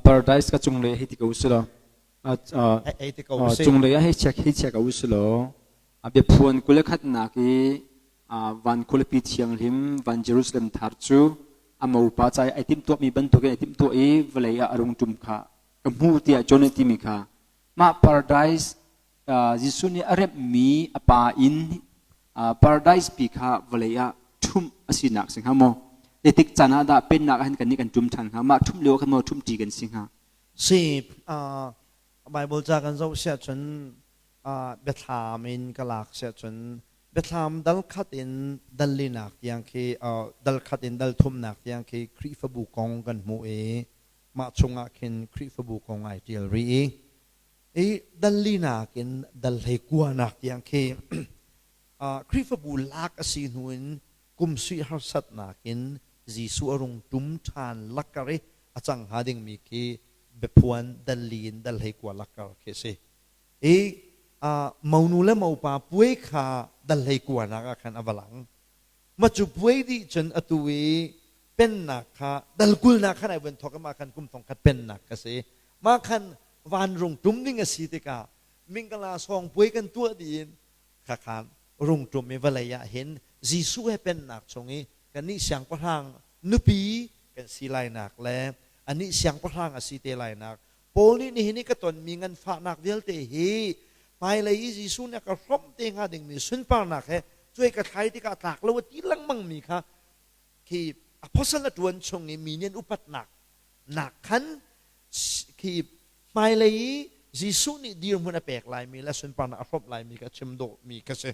paradise ka cunglei hei ti ko silo cunglei ah hei check hei check ko silo a biaphuan kule khatnak i van khulipi thianghlim van jerusalem thar cu a mopa cai ai tim tuah mi bantuk in ai tim tuah i vawlei ah a rung tum kha ka hmu tiah john timi kha mah paradise Jesuh nih a remhmi a pa in paradise pi kha vawlei ah ṭhumh a sinak si hnga maw? Zeitik caan ah dah Pennak ah hin kannih kan ṭum ṭhan hnga? Mah ṭhumh lio ah khan maw ṭhumṭi kan si hnga? Si. Baibal ca kan zoh siah cun biathlam in ka lak siah cun biathlam dal khat in dal linak tiang khi dal khat in dal thumnak tiang khi Khrihfabu kong kan hmuh i mah chung ah khin Khrihfabu kong ai ṭial rih i i danlinak in dal hlei kuanak tiang khi Khrihfabu lak a si hnu in kum suih harsatnak in Jesuh a rung ṭum ṭhan lakkar i a cang hnga dingmi khi biaphuan dalli in dal hlei kua lakkar khi a si. I monu le mopa puai kha dal hlei kuanak ah khan a va lang. Macupuai nih cun atu i pennak kha dalkulnak kha nai vuan thawk mah khan kum thong khat pennak ka si mah khan vanrung ṭum ding a si tikah mingkala sawng puai kan tuah diin khakhan rung ṭum i vawlei ah hin Jesuh he pennak chung i kannih siangpahrang nupi kan si lainak le anih siangpahrang a si te lainak Paul nih nihin i ka tonmi nganfahnak vialte hi hmailei i Jesuh nih a ka hrawmh te hnga dingmi sunparnak he cuai ka thlai tikah tlak lo a ti lengmangmi kha khi apostle a ṭuan chung i mi nih an upatnak nak khan khi hmailei i Jesuh nih dirhmun a pek laimi le sunparnak a hrawmh laimi kha chim dawhmi ka si.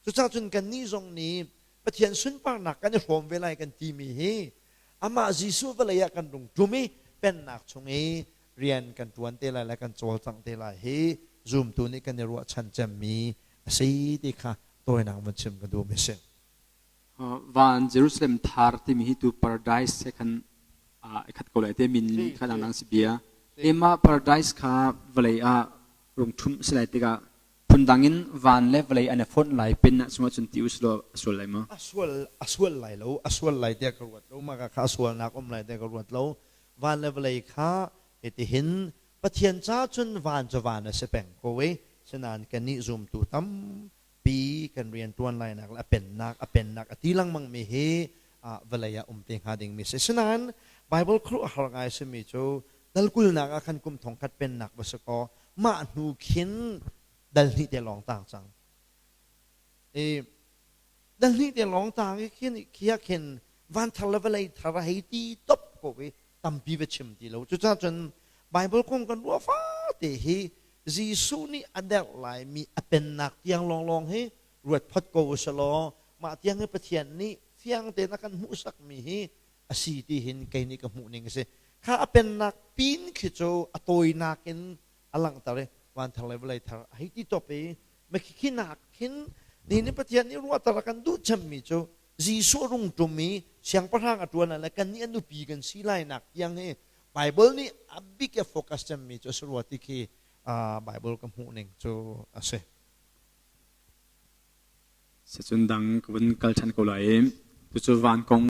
Cucah cun kannih zong nih Pathian sunparnak kan i hrawm ve lai kan timi hi amah Jesuh vawlei ah kan rung ṭum i Pennak chung i rian kan ṭuan te lai le kan cawlcangh te lai hi zumtu nih kan i ruahchan cemmi a si ti kha tawinak vun chim ka duhmi a si. Van Jerusalem Thar timi hi tu paradise he khan aa khat ko lai te min kha dangdang si bia. Emah paradise kha vawlei ah rung ṭhumh si lai tikah Phundang in van le vawlei an i fonh lai pin ah cungah cun ti u sih law a sual lai maw? A sual, a sual lai lo, a sual lai tiah ka ruat lo, mah ka kha a sualnak a um lai tiah ka ruat lo. Van le vawlei kha hitihin, Pathian caah cun van cu van a si peng ko i sinain kannih zumtu tampi kan rianṭuan lainak le a pennak, a pennak a ti lengmangmi hi vawlei ah um te hnga dingmi a si. Sinain Baibal khuaruahhar ngai a simi cu Hnalkulnak ah khan kum thongkhat pennak va si kaw mah hnu khin dal hnih te lawng tang cang. I dal hnih te lawng tang i khin khi ah khin van thar le vawlei thar a hei ti top ko i tampi va chim ti lo. Cucaah cun Bible kong kan ruah fate hi Jesuh nih a derh laimi a pennak tiang lawnglawng hi ruat phot ko usih law mah tiang hi Pathian nih fiang tein a kan hmuhsakmi hi a si ti hin kei nih ka hmuhning a si. Kha a pennak pin khi cu a tawinak in a langhter i vanthar le vawlei thar a hei ti top i makhikhi nak hin nihin i Pathian nih ruahter a kan duh cemmi cu Jesuh a rung ṭum i siangpahrang a ṭuan ah le kannih a nupi kan si lainak tiang hi Baibal nih a bik i a focus cemmi cu a si rua ti khi Baibal ka hmuhning cu a si. Sicun dang ka vun kal ṭhan ko lai i cucu van kong